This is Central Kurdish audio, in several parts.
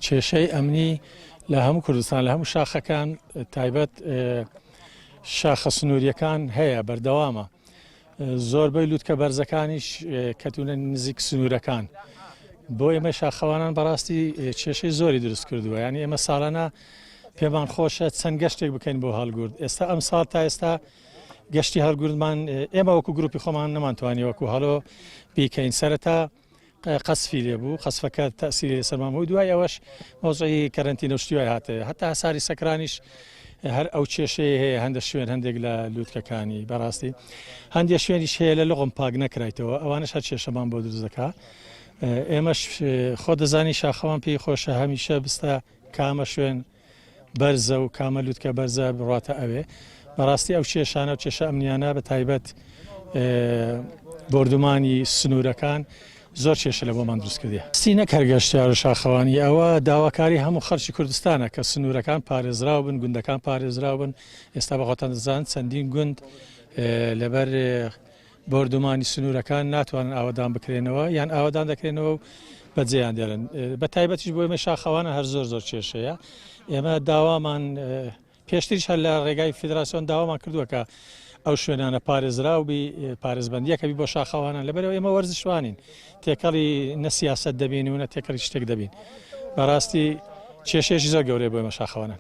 کێشەی ئەمنی لە هەموو کوردستان لە هەموو شاخەکان تایبەت شاخە سنووریەکان هەیە بەردەوامە زۆربەی لوتکە بەرزەکانیش کەتونە نزیک سنوورەکان بۆ ئێمە شاخەوانان بەڕاستی کێشەی زۆری دروست کردووە یانی ئێمە ساڵانە پێمان خۆشە چەند گەشتێک بکەین بۆ هەڵگورد ئێستا ئەم ساڵ تا ئێستا گەشتی هەڵگوردمان ئێمە وەکو گروپی خۆمان نەمانتوانی وەکو هەڵۆ بیکەین سەرەتا قەسفی لێبوو قەسفەکە تەسیری لەسەر مام و دوای ئەوەش مۆزعی کەرنتی نەشتیوای هاتێ هەتا هەساری سەکرانیش هەر ئەو کێشەیە هەیە هەندە شوێن هەندێک لە لووتکەکانی بەڕاستی هەندێک شوێنیش هەیە لە لغم پاک نەکرایتەوە ئەوانش هەر کێشەمان بۆ دروست دەکا ئێمەش خۆ دەزانی شاخەوان پێی خۆشە هەمیشە بستە کامە شوێن بەرزە و کامە لوتکە بەرزە بڕاتە ئەوێ. بەڕاستی ئەو کێشانە و کێشە ئەمنیانە بە تایبەت بردومانی سنوورەکان زۆر کێشە لە بۆمان دروست کردی سی نەک هەرگەشتیار و شاخەوانی ئەوە داواکاری هەموو خەرچی کوردستانە کە سنوورەکان پارێزراو بن گوندەکان پارێزراو بن ئێستا بەخۆتان دەزان چەندین گوند لەبەر بۆردومانی سنوورەکان ناتوانن ئاوەدان بکرێنەوە یان ئاوەدان دەکرێنەوە و بەجێیان دێڵن بە تایبەتیش بۆ ئێمە شاخەوانە هەر زۆر زۆر کێشەیە ئێمە داوامان پێشتریش هەر لە ڕێگای فیدراسیۆن داوامان کردووە کە ئەو شوێنانە پارێزراو بی پارێزبندیەکەبی بۆ شاخەوانان لەبەرەوە ئێمە وەرزشوانین تێکەڵی نە سیاست دەبین و نە تێکەڵی شتێک دەبین بەڕاستی کێشێش زۆر گەورەی بۆ ئێمە شاخەوانان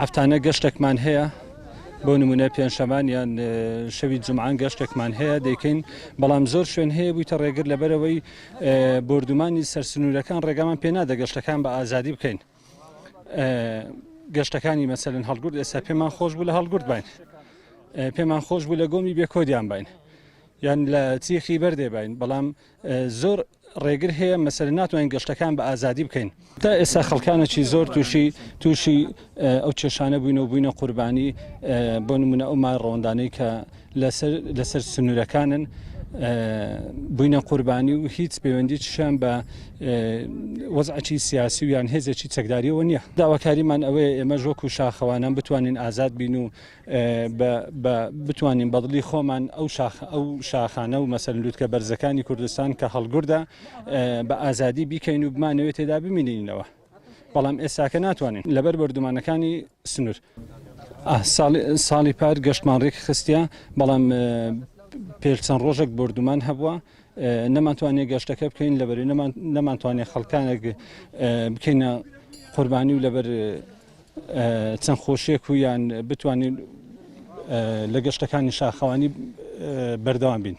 هەفتانە گەشتەکمان هەیە بۆ نمونە پێنجشەمان یان شەوی جمعان گەشتێکمان هەیە دەیکەین بەڵام زۆر شوێن هەیە بوویتە ڕێگر لەبەرەوەی بردومانی سەرسنوورەکان ڕێگامان پێنادە گەشتەکان بە ئازادی بکەین گەشتەکانی مەسەن هەڵگرد ئێستا پێمان خۆش بوو لە هەڵگرد باین پێمان خۆش بوو لە گۆمی بێکۆدیان باین یان لە چیخی بەردێ باین بەڵام زۆر ڕێگر هەیە مەسەلە ناتوانین گەشتەکان بە ئازادی بکەین تا ئێستا خەڵکانەی زۆر تووشی تووشی ئەو کێشانە بووین و بووینە قوربانی بۆ نمونە ئەو مای ڕەوەندانەی کە لەسەر سنوورەکانن بووینە قوربانی و هیچ پەیوەندی چشان بە وەزعی سیاسی و یان هێزێکی چەکداریەوە نییە داواکاریمان ئەوەیە ئێمە ژۆک و شاخەوانان بتوانین ئازاد بین و بە بتوانین بەدڵی خۆمان ئەو شاخانە و مەسەر لووتکە بەرزەکانی کوردستان کە هەڵگوردە بە ئازادی بیکەین و بمانەوێت تێدا بمینینەوە بەڵام ئێستاکە ناتوانین لەبەر بەردومانەکانی سنوور ساڵی پار گەشتمان ڕێک خستە بەڵام پێل چەند ڕۆژێک بردومان هەبووە نەمانتوانێت گەشتەکە بکەین لەبەر نەمانتوانێت خەڵکانێک بکەینە قوربانی و لەبەر چەند خۆشیەک و یان بتوانین لە گەشتەکانی شاخەوانی بەردەوام بین.